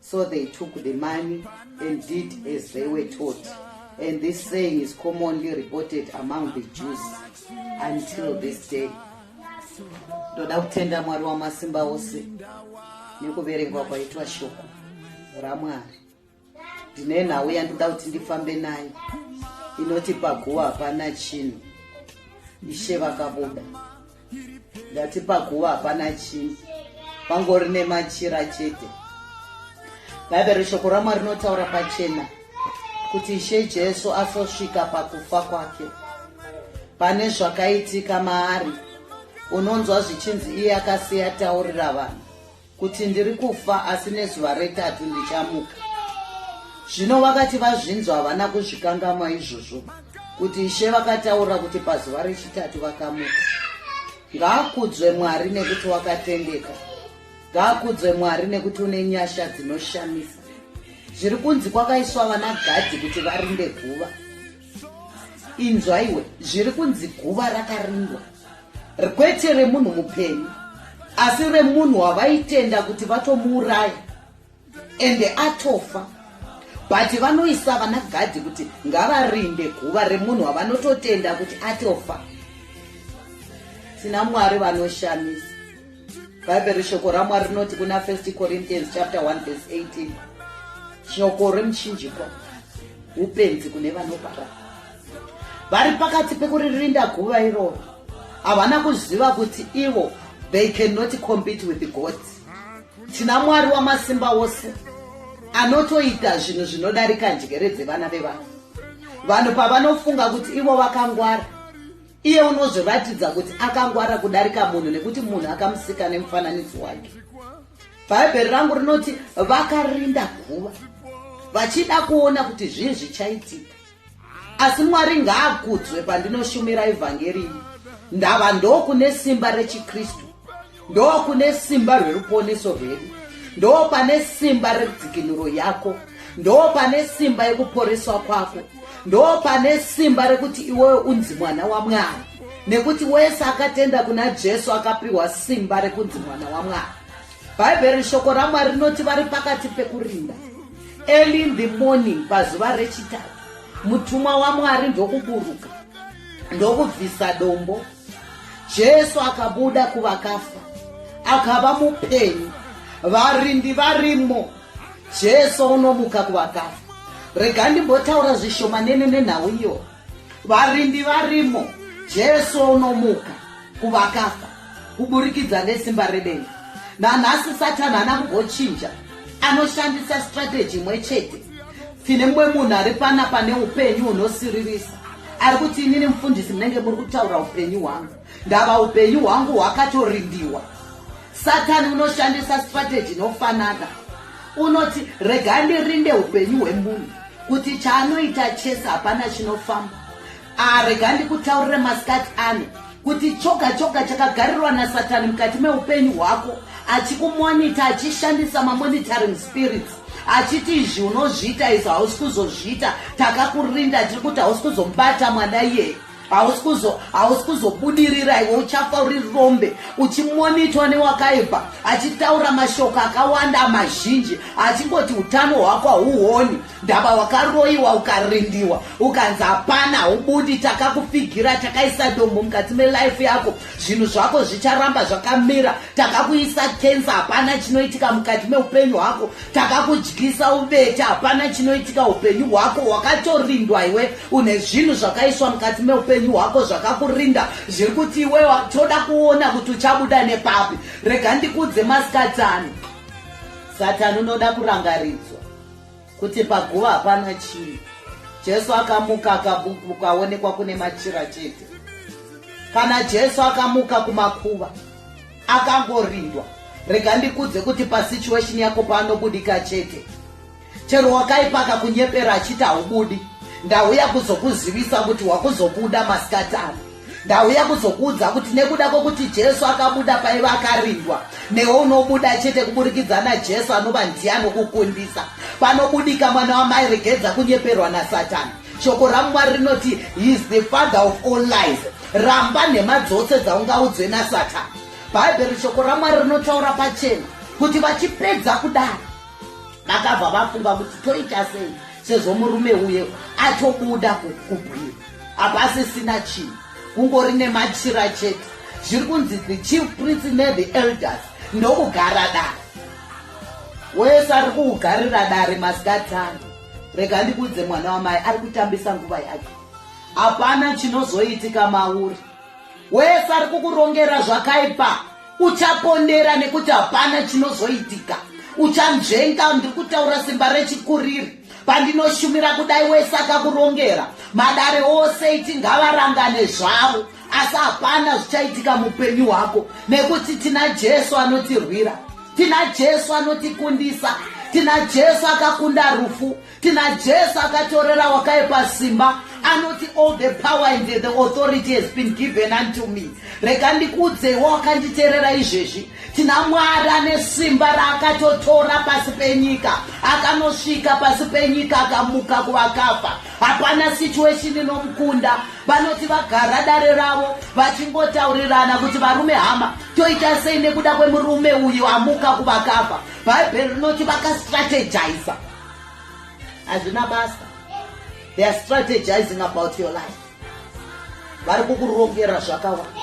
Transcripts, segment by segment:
So they took the money and did as they were taught. And this saying is commonly reported among the Jews until this day. Ndoda kutenda Mwari wamasimba ose nekuverengwa kwaitwa shoko raMwari. Ndine nhau yandoda kuti ndifambe nayo inoti paguva hapana chinhu. Ishe vakabuda. ndati paguva hapana chii pangori nemachira chete bhaibheri shoko ramwari rinotaura pachena kuti ishe jesu asosvika pakufa kwake pane zvakaitika maari unonzwa zvichinzi iye akasiya taurira vanhu kuti ndiri kufa asi nezuva retatu ndichamuka zvino vakati vazvinzwa havana kuzvikangama izvozvo kuti ishe vakataura kuti pazuva rechitatu vakamuka ngaakudzwe mwari nekuti wakatendeka ngaakudzwe mwari nekuti une nyasha dzinoshamisa zviri kunzi kwakaiswa vana gadhi kuti varinde guva inzwaiwe zviri kunzi guva rakarindwa kwete remunhu mupenyu asi remunhu wavaitenda kuti vatomuuraya ende atofa but vanoisa vana gadhi kuti ngavarinde guva remunhu wavanototenda kuti atofa tina mwari vanoshamisa bhaibheri shoko ramwari rinoti kuna first corinthians chapter 1 vese 18 shoko remuchinjikwa upenzi kune vanopara vari pakati pekuririnda guva iroro havana kuziva kuti ivo they cannot compete with god tina mwari wamasimba ose anotoita zvinhu zvinodarika njere dzevana vevanhu vanhu pavanofunga kuti ivo vakangwara iye unozviratidza kuti akangwara kudarika munhu nekuti munhu akamusika nemufananidzo wake bhaibheri rangu rinoti vakarinda guva vachida kuona kuti zvii zvichaitika asi mwari ngaakudzwe pandinoshumira evhangeri iyi ndava ndokune simba rechikristu ndokune simba rweruponeso rwedu ndoo pane simba redzikinuro yako ndoo pane simba yekuporeswa kwako ndoo pane simba rekuti iwewe unzi mwana wamwari nekuti wese akatenda kuna jesu akapiwa simba rekunzi mwana wamwari bhaibheri shoko ramwari rinoti vari pakati pekurinda early in the morning pazuva rechitatu mutumwa wamwari ndokuburuka ndokubvisa dombo jesu akabuda kuvakafa akava mupenyu varindi varimo jesu unomuka kuvakafa rega ndimbotaura zvishomanene nenhau iyo varindi varimo jesu unomuka kuvakafa kuburikidza nesimba redenga nanhasi satani ana kugochinja anoshandisa strateji imwe chete tine mumwe munhu ari pana pane upenyu hunosiririsa ari kuti inini mufundisi munenge muri kutaura upenyu hwangu ndava upenyu hwangu hwakatorindiwa satani unoshandisa strategy inofanana unoti rega ndirinde upenyu hwemunhu kuti chaanoita chese hapana chinofamba arega ah, ndikutaurire masikati ane kuti choga choga chakagarirwa nasatani mukati meupenyu hwako achikumonita achishandisa mamonitoring spirits achiti izvi unozviita izvo hausi kuzozviita takakurinda tiri kuti hausi kuzomubata mwana iyeye hausi kuzobudirira iwe uchafa uri rombe uchimonitwa newakaibva achitaura mashoko akawanda mazhinji achingoti utano hwako hauoni ndaba wakaroiwa ukarindiwa ukanzi hapana haubudi takakufigira takaisa dombo mukati melife yako zvinhu zvako zvicharamba zvakamira takakuisa kensa hapana chinoitika mukati meupenyu hwako takakudyisa ubeta hapana chinoitika upenyu hwako wakatorindwa iwe une zvinhu zvakaiswa mukati meupenyu hwako zvakakurinda zviri kuti iwe toda kuona kuti uchabuda nepapi rega ndikudze masikatani satani unoda kurangaridzwa kuti paguva hapana chii jesu akamuka akaonekwa kune machira chete kana jesu akamuka kumakuva akangorindwa rega ndikudze kuti pasituation yako paanobudika chete chero wakaipaka kunyepera achiti haubudi ndauya kuzokuzivisa kuti wakuzobuda masikatano ndauya kuzokuudza kuti nekuda kwokuti jesu akabuda paiva akarindwa newe unobuda chete kuburikidza najesu anova ndiye anokukundisa panobudika mwana wamai regedza kunyeperwa nasatani shoko ramwari rinoti he is the father of all lies ramba nhema dzose dzaungaudzwe nasatani bhaibheri shoko ramwari rinotaura pachena kuti vachipedza kudaro vakabva vafunga kuti toita sei sezvo murume uye atobuda kubwira hapasisina chinhu kungori nemachira chete zviri kunzi the chief prince nethe elders ndokugara dare wese ari kuugarira dare masikati ano rega ndikudze mwana wamai ari kutambisa nguva yake hapana chinozoitika mauri wese ari kukurongera zvakaipa uchapondera nekuti hapana chinozoitika uchanzvenga ndiri kutaura simba rechikuriri Pandinoshumira kudai wese akakurongera madare ose iti ngavarangane zvavo asi hapana zvichaitika mupenyu hwako nekuti tina jesu anotirwira tina jesu anotikundisa tina jesu akakunda rufu tina jesu akatorera wakaipa simba anoti all the power and the authority has been given unto me rega ndikuudzeiwo wakanditerera izvezvi Tina Mwari ane simba raakatotora pasi penyika, akanosvika pasi penyika akamuka kuvakafa. Hapana situation inomukunda. Vanoti vagara dare ravo vachingotaurirana kuti varume hama toita sei nekuda kwemurume uyu amuka kuvakafa. Bhaibheri rinoti vakastrategiza. Hazvina basa. They are strategizing about your life. Vari kukurongera zvakawanda.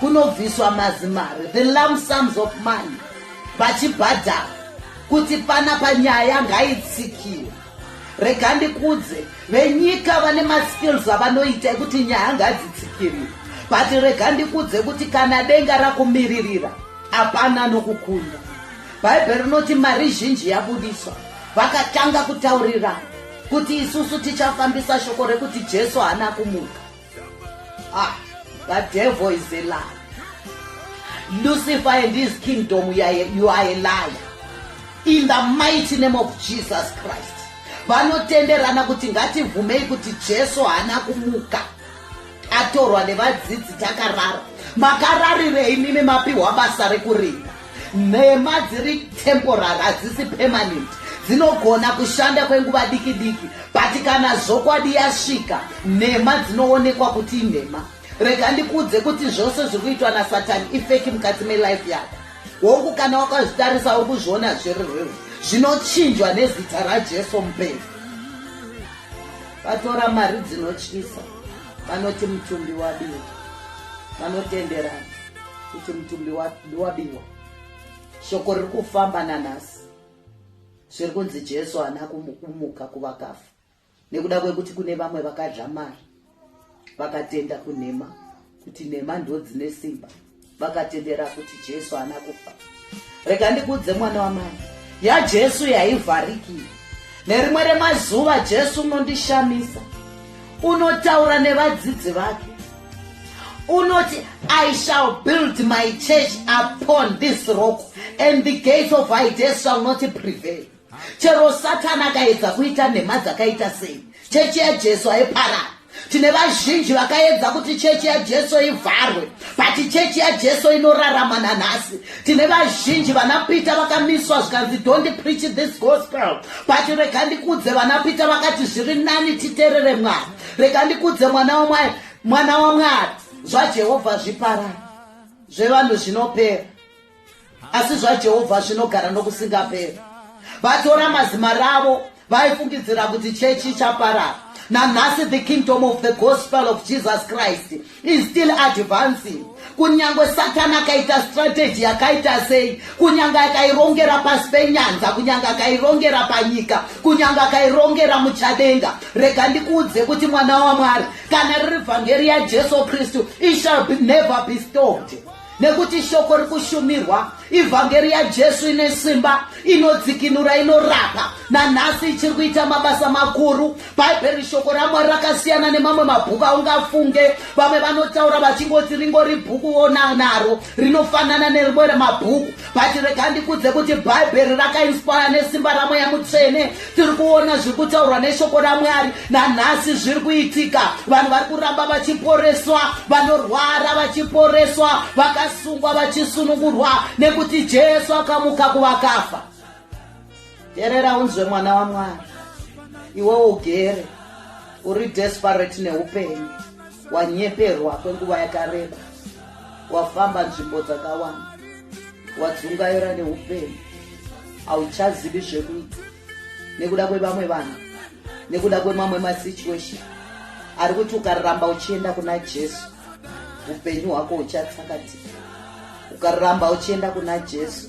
kunobviswa mazimari the lump sums of money vachibhadhara kuti pana panyaya ngaitsikiwe rega ndikudze venyika vane maskills avanoita ekuti nyaya ngadzitsikirire but rega ndikudze kuti kana denga rakumiririra hapana nokukunda bhaibheri rinoti mari zhinji yabudiswa vakatanga kutaurira kuti isusu tichafambisa shoko rekuti jesu haana kumuka ah the devil is a liar lucifer and his kingdom you are, you are a liar in the mighty name of jesus christ vanotenderana kuti ngatibvumei kuti jesu haana kumuka atorwa nevadzidzi takarara makararirei mimi mapiwa basa rekurinda Nhema dziri temporary hadzisi permanent dzinogona kushanda kwenguva diki diki but kana zvokwadi yasvika nhema dzinoonekwa kuti inhema rega ndikuudze kuti zvose zviri kuitwa nasatani ifeki mukati melife yako hongu kana wakazvitarisa uri kuzviona zviri reu zvinochinjwa nezita rajesu mupei vatora mari dzinotyisa vanoti mutumbi wabiwa vanotenderana kuti mutumbi wabiwa shoko riri kufamba nanhasi zviri kunzi jesu haana kumuka kuvakafa nekuda kwekuti kune vamwe vakadya mari vakatenda kunhema kuti nhema ndodzine simba vakatendera kuti jesu haana kufa rega ndikuudze mwana wamai yajesu yaivharikira nerimwe remazuva jesu unondishamisa unotaura nevadzidzi vake unoti i shall build my church upon this rock and the gates of ides shall not prevail chero satani akaedza kuita nhema dzakaita sei chechi yajesu aiparara tine vazhinji vakaedza kuti chechi yajesu ivharwe but chechi yajesu inorarama nanhasi tine vazhinji vanapita vakamiswa zvikanzi don't preach this gospel but rega ndikudze vanapita vakati zviri nani titerere mwari rega ndikudze mwana wamwari mwana wamwari zvajehovha zvipara zvevanhu zvinopera asi zvajehovha zvinogara nokusingaperi vatora mazima ravo vaifungidzira kuti chechi ichaparara nanhasi the kingdom of the gospel of jesus christ is still advancing kunyange satani akaita strategy yakaita sei kunyange akairongera pasi penyanza kunyange akairongera panyika kunyange akairongera muchadenga rega ndikuudze kuti mwana wamwari kana riri vhangeri yajesu kristu ishall never be stopped nekuti shoko rikushumirwa ivhangeri yajesu ine simba inodzikinura inorapa nanhasi ichiri kuita mabasa makuru bhaibheri shoko ramwari rakasiyana nemamwe mabhuku aungafunge vamwe vanotaura vachingoti ringori bhuku wona naro rinofanana nerimwe remabhuku but rega ndikudze kuti bhaibheri rakainspaya nesimba ramweya mutsvene tiri kuona zviri kutaurwa neshoko ramwari nanhasi zviri kuitika vanhu vari kuramba vachiporeswa vanorwara vachiporeswa vakasungwa vachisunungurwa nekuti jesu akamuka kuvakafa terera unzwe mwana wamwari iwewo ugere uri desperate neupenyu wanyeperwa kwenguva yakareba wafamba nzvimbo dzakawanda wadzungaira neupenyu hauchazivi zvekuita nekuda kwevamwe vanhu nekuda kwemamwe masituation ari kuti ukaramba uchienda kuna jesu upenyu hwako huchatsakatika ukaramba uchienda kuna jesu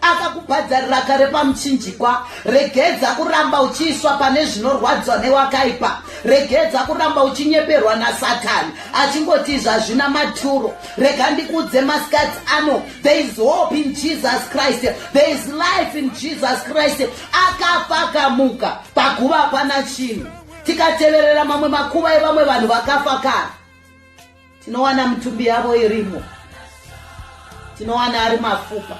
akakubhadharira kare pamuchinjikwa regedza kuramba uchiiswa pane zvinorwadzwa newakaipa regedza kuramba uchinyeperwa nasatani achingoti zvazvina maturo rega ndikudze maskati ano there is hope in jesus christ there is life in jesus christ akafa akamuka paguva hapana chinhu tikateverera mamwe makuva evamwe vanhu vakafa kare tinowana mitumbi yavo irimo tinowana ari mafupa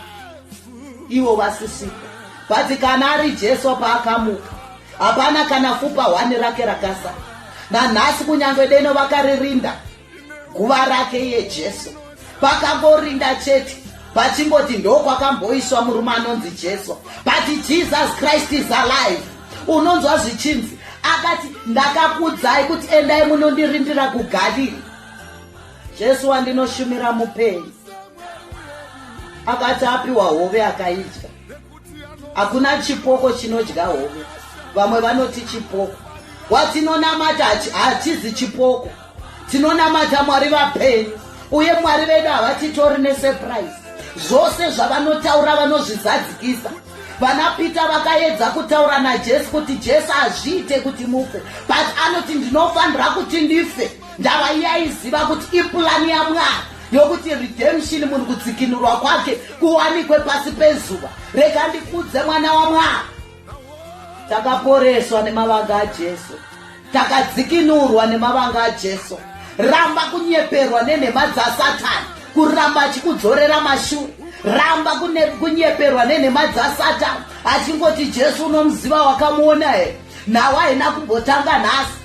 ivo vasisipo but kana ari jesu paakamuka hapana kana fupa hwani rake rakasa nanhasi kunyange deno vakaririnda guva rake yejesu pakangorinda chete pachingoti ndokwakamboiswa murume anonzi jesu but jesus christ is alive unonzwa zvichinzi akati ndakakudzai kuti endai munondirindira kugalili jesu wandinoshumira mupenyu akati apiwa hove akaidya hakuna chipoko chinodya hove vamwe vanoti chipoko watinonamata hachizi chipoko tinonamata mwari vapenyu uye mwari vedu havatitori nesurprise zvose zvavanotaura vanozvizadzikisa vana peter vakaedza kutaura najesu kuti jesu hazviite kuti mufe but anoti ndinofanira kuti ndife ndava iyaiziva kuti ipulani yamwari yokuti redemption munhu kudzikinurwa kwake kuwanikwe pasi pezuva rega ndikudze mwana wamwari takaporeswa nemavanga ajesu takadzikinurwa nemavanga ajesu ramba kunyeperwa nenhema dzasatani kuramba achikudzorera mashure ramba kunyeperwa nenhema dzasatani achingoti jesu unomuziva wakamuona here nhau haina kumbotanga nhasi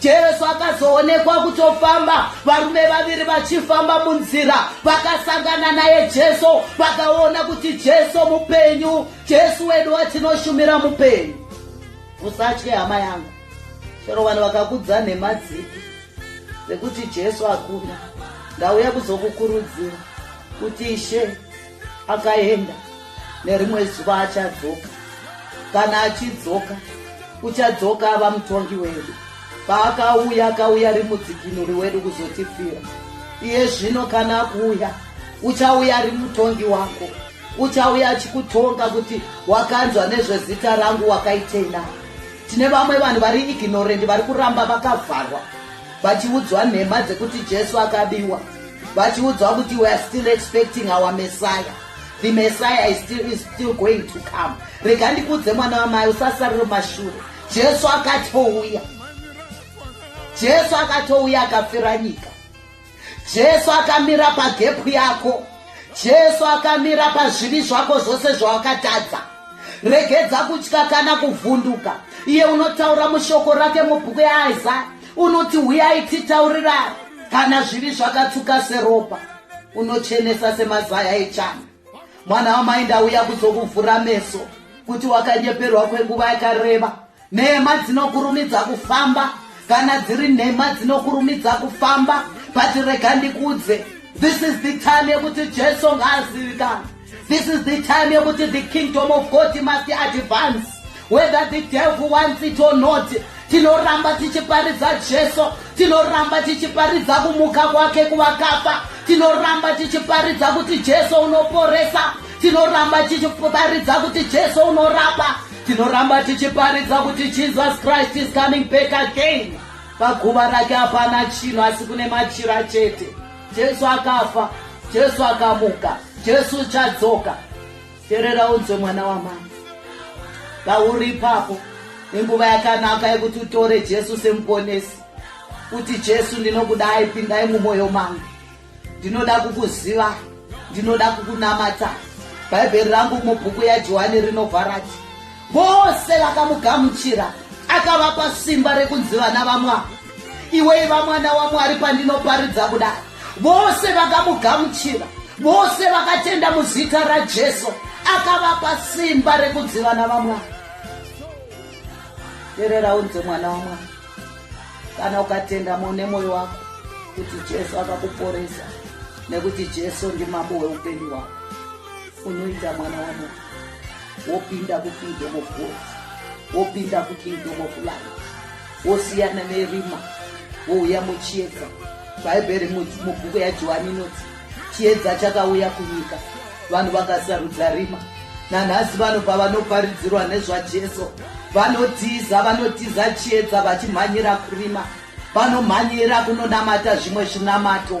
Jesu akazoonekwa kutofamba, varume vaviri vachifamba munzira, vakasangana naye Jesu, vakaona kuti Jesu mupenyu. Jesu wedu watinoshumira mupenyu. Usatye hama yangu, chero vanhu vakakudza nhema dzipi dzekuti Jesu akuna, ndauya kuzokukurudzira kuti Ishe akaenda nerimwe zuva achadzoka kana achidzoka uchadzoka ava mutongi wedu paakauya akauya rimudzikinuri wedu kuzotifira iye zvino kana akuuya uchauya ari mutongi wako uchauya achikutonga kuti wakanzwa nezvezita rangu wakaitei na tine vamwe vanhu vari ignorendi vari kuramba vakavharwa vachiudzwa nhema dzekuti jesu akabiwa vachiudzwa kuti weare still expecting our messiah the messiah is still, is still going to come rega ndikuudze mwana wamai usasariro mashure jesu akatouya jesu akatouya akafira nyika jesu akamira pagepu yako jesu akamira pazvivi zvako zvose zvawakatadza regedza kutya kana kuvhunduka iye unotaura mushoko rake mubhuku yaisaya Unoti huyai titaurirane kana zvivi zvakatsuka seropa unochenesa semazaya echana mwana wamai ndauya kuzokuvhura meso kuti wakanyeperwa kwenguva yakareba nhema dzinokurumidza kufamba kana dziri nhema dzinokurumidza kufamba but rega ndikudze this is the time yekuti jesu ngaazivikana This is the time yekuti the kingdom of God must advance whether the devil wants it or not tinoramba tichiparidza jesu tinoramba tichiparidza kumuka kwake kuvakafa tinoramba tichiparidza kuti jesu unoporesa tinoramba tichiparidza kuti jesu unorapa tinoramba tichiparidza kuti jesus christ is coming back again paguva rake hapana chinhu asi kune machira chete Jesu akafa, Jesu akamuka, Jesu uchadzoka. Terera unzwe mwana wamama. Pauri ipapo inguva yakanaka yekuti utore Jesu semuponesi. Kuti Jesu ndinokudai pindai mumwoyo mangu. Ndinoda kukuziva, ndinoda kukunamata. Bhaibheri rangu mubhuku yaJohani rinovharati Vose vakamugamuchira, akavapa simba rekunzi vana vamwa. Iwe iva mwana waMwari pandinoparidza kuda. Vose vakamugamuchira, vose vakatenda muzita raJesu, akavapa simba rekunzi vana vamwa. Terera unzi mwana waMwari. Kana ukatenda mune moyo wako kuti Jesu akakuporesa nekuti Jesu ndimambo weupenyu wako, unoita mwana waMwari. wopinda kukingdom of god wopinda kukingdom of light wosiyana nerima wouya muchiedza bhaibheri mubhuku yajohani inoti chiedza chakauya kunyika vanhu vakasarudza rima nanhasi vanhu pavanoparidzirwa nezvajesu vanotiza vanotiza chiedza vachimhanyira kurima vanomhanyira kunonamata zvimwe zvinamato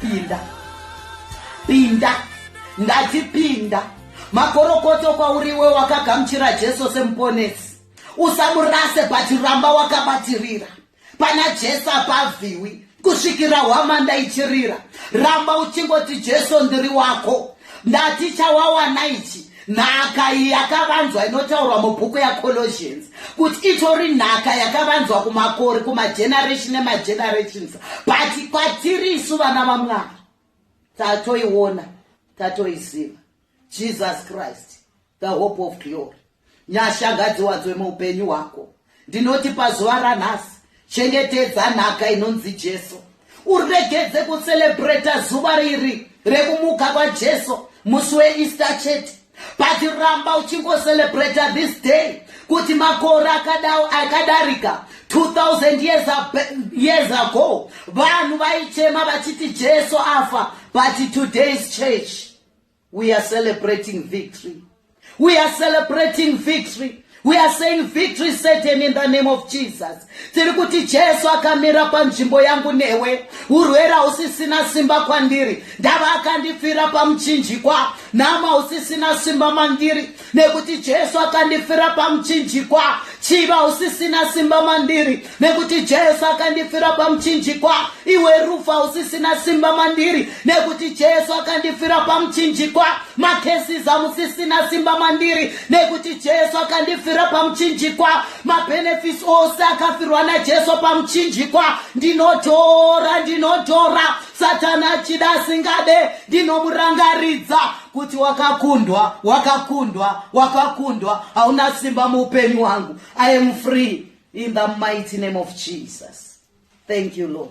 pinda pinda ndati pinda makorokoto kwauriwe wakagamuchira jesu semuponesi usamurase but ramba wakabatirira pana jesu apavhiwi kusvikira hwamanda ichirira ramba uchingoti jesu ndiri wako ndati chawawana ichi nhaka iyi yakavanzwa inotaurwa mubhuku yacolosians kuti itori nhaka yakavanzwa kumakori kumageneration emagenerations but kwatiri isu vana vamwari tatoiona tatoiziva jesus christ the hope of glory nyashangadziwadzwe muupenyu hwako Ndinoti pazuva ranhasi, chengetedza nhaka inonzi Jesu. Uregedze kucelebrata zuva riri rekumuka kwaJesu musi weEaster chete. But ramba uchingocelebrata this day kuti makore akadao akadarika 2000 years, years ago vanhu vaichema vachiti Jesu afa but today's church We are celebrating victory. We are celebrating victory. We are saying victory certain in the name of Jesus. Tiri kuti Jesu akamira panzvimbo yangu newe. Urwere hausisina simba kwandiri. Ndava akandifira pamuchinjikwa. Nama hausisina simba mandiri. nekuti jesu akandifira pamuchinjikwa chiva usisina simba mandiri nekuti jesu akandifira pamuchinjikwa iwe rufa usisina simba mandiri nekuti jesu akandifira pamuchinjikwa makesiza musisina simba mandiri nekuti jesu akandifira pamuchinjikwa mabenefits ose akafirwa najesu pamuchinjikwa ndinotora ndinotora satani achida asingade ndinomurangaridza kuti wakakundwa wakakundwa wakakundwa hauna simba muupenyu wangu i am free in the mighty name of jesus thank you lord